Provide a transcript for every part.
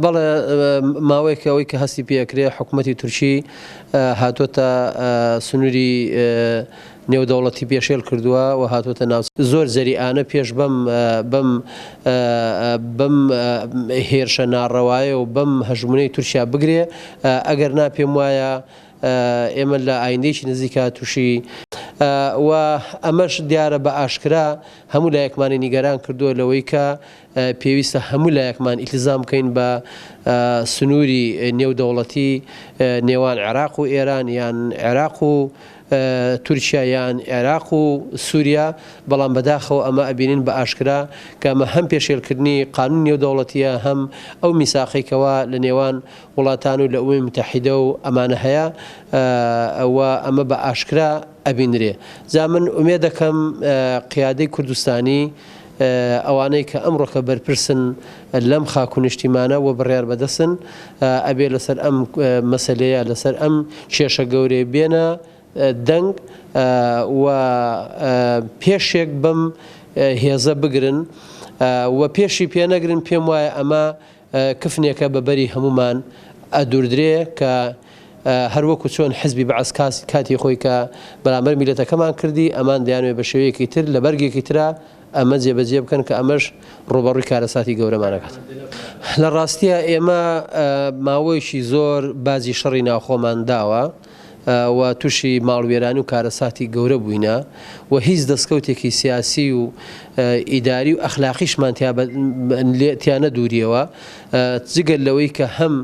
بەڵێ ماوەیەکە ئەوەی کە هەستی پێ ئەکرێ حکوومەتی تورکی هاتووەتە سنووری نێودەوڵەتی پێشێل کردووە و هاتووەتە ناو زۆر جەریئانە پێش بەم بەم بەم هێرشە ناڕەوایە و بەم هەژمونەی تورکیا بگرێ ئەگەر نا پێم وایە ئێمە لە ئایندێکی نزیکا تووشی و ئەمەش دیارە بە ئاشکرا هەموو لایەکمانی نیگەران کردووە لەوەی کە پێویستە هەموو لایەکمان ئیلتزام بکەین بە سنووری نێودەوڵەتی نێوان عێراق و ئێران یان عێراق و تورکیا یان عێراق و سووریا بەڵام بەداخەوە ئەمە ئەبینین بە ئاشکرا کە ئەمە هەم پێشێلکردنی قانون نێودەوڵەتیە هەم ئەو میساقێکەوە لە نێوان وڵاتان و لە ئەوەی متحیدە و ئەمانە هەیە ئەوە ئەمە بە ئاشکرا ئەبینرێ جا من ئومێ دەکەم قیادەی کوردستانی ئەوانەی کە ئەمڕۆکە بەرپرسن لەم خاک و نیشتیمانە و بڕیار بەدەستن ئەبێ لەسەر ئەم مەسەلەیە لەسەر ئەم کێشە گەورەیە بێنە دەنگ و پێشێک بەم هێزە بگرن و پێشی پێ نەگرن پێم وایە ئەمە کفنێکە بە بەری هەموومان ئەدوردرێ کە هەر وەکو چۆن حزبی بەعس کاتی خۆی کە بەرامبەر میلەتەکەمان کردی ئەمان دەیانەوێ بە شێوەیەکی تر لە بەرگێکی ترا ئەمە جێ بە جێ بکەن کە ئەمەش ڕووبەڕووی کارەساتی گەورەمان ئەکات لە ڕاستیا ئێمە ماوەیەکی زۆر باجی شەڕی ناوخۆمان داوە. و توشی ماڵوێرانی و کارەساتی گەورە بووینە و هیچ دەستکەوتێکی سیاسی و ئیداری و ئەخلاقیشمان تیا نەدوریەوە جگەل لەوەی کە هەم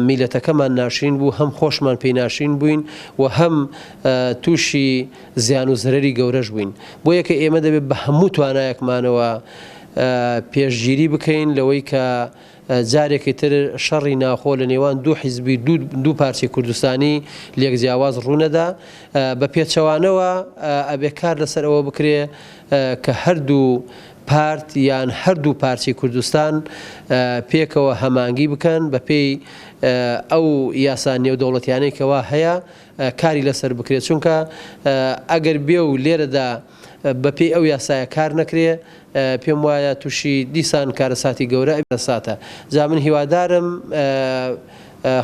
میلەتەکەمان ناشرین بوو هەم خۆشمان پێی ناشرین بووین و هەم تووشی زیان و زرەری گەورەش بووین بۆ یەکە ئێمە دەبێت بە هەموو توانایەکمانەوە پێشگیری بکەین لەوەی کە جارێکی تر شەڕی ناوخۆ لە نێوان دوو حیزبی دوو پارچەی کوردستانی لێک جیاواز ڕوونەدا بە پێچەوانەوە ئەبێ کار لەسەر ئەوە بکرێ کە هەردوو پارت یان هەردوو پارچەی کوردستان پێکەوە هەمانگی بکەن بە پێی ئەو یاسا نێودەوڵەتیانەی کەوا هەیە کاری لەسەر بکرێت چونکە ئەگەر بێ و لێرەدا بە پێی ئەو یاسایە کار نەکرێ پێم وایە تووشی دیسان کارەساتی گەورە ئەبێساتە جا من هیوادارم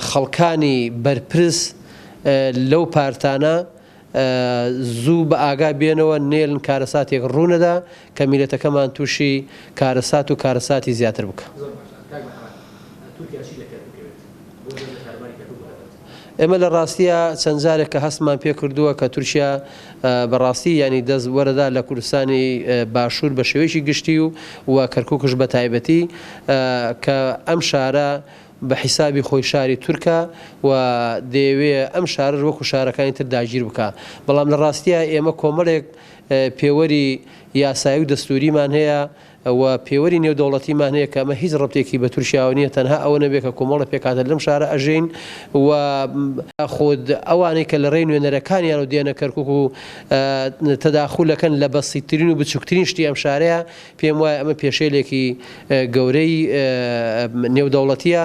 خەڵکانی بەرپرس لەو پارتانە زوو بە ئاگا بێنەوە نێلن کارەساتێک ڕوونەدا کە میلەتەکەمان تووشی کارەسات و کارەساتی زیاتر بکە. ئێمە لە ڕاستیا چەند جارێک کە هەستمان پێ کردووە کە تورکیا بە ڕاستی یانی دەست وەرەدا لە کوردستانی باشوور بە شێوەیەکی گشتی و و کەرکووکش بە تایبەتی کە ئەم شارە بە حیسابی خۆی شاری تورکە و دەیەوێ ئەم شارەش وەکو شارەکانی تر داگیر بکا بەڵام لە ڕاستیە ئێمە کۆمەڵێک پێوەری یاسایی و دەستوریمان هەیە و پێوەری نێودەوڵەتیمان هەیە کە ئەمە هیچ ڕەبتێکی بە تورکیاوە نییە تەنها ئەوە نەبێت کە کۆمەڵە پێکهاتە لەم شارە ئەژین و خود ئەوانەی کە لە ڕێی نوێنەرەکانیانەوە دێنە کەرکوک و تەداخول ئەکەن لە بەسیتترین و بچوکترین شتی ئەم شارەیە پێم وایە ئەمە پێشێلێکی گەورەی نێودەوڵەتیە.